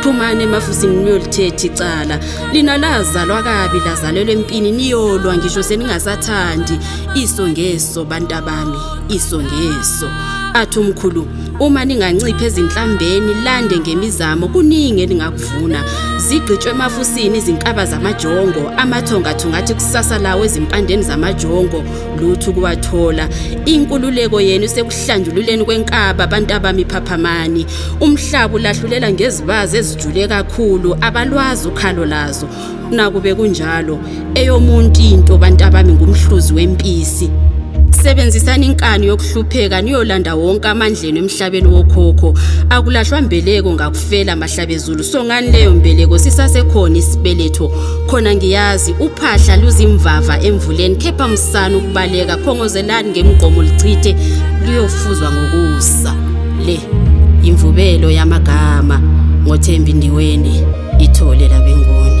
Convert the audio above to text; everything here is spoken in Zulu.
phumani emafusini niyolithetha icala lina lazalwa kabi lazalelwa empini niyolwa ngisho seningasathandi iso ngeso bantabami iso ngeso athi umkhulu uma ningancipha ezinhlambeni lande ngemizamo kuningi eningakuvuna zigqitshwe emafusini izinkaba zamajongo amathonga thungathi kusasa lawo ezimpandeni zamajongo lutho kuwathola inkululeko yenu sekuhlanjululeni kwenkaba abantu abamiphaphamani umhlaba ulahlulela ngezibazi ezijule kakhulu abalwazi ukhalo lazo nakube kunjalo eyomuntu into bantu abami ngumhluzi wempisi sebenzisani inkani yokuhlupheka niyolanda wonke amandleni emhlabeni wokhokho akulahlwa mbeleko ngakufela mahlabezulu songani leyo mbeleko sisasekhona isibeletho khona ngiyazi uphahla luzimvava emvuleni khepha msana ukubaleka khongozelani ngemgqomo lichithe luyofuzwa ngokusa Le yimvubelo yamagama ngoThembi Ndiweni ithole labenguni.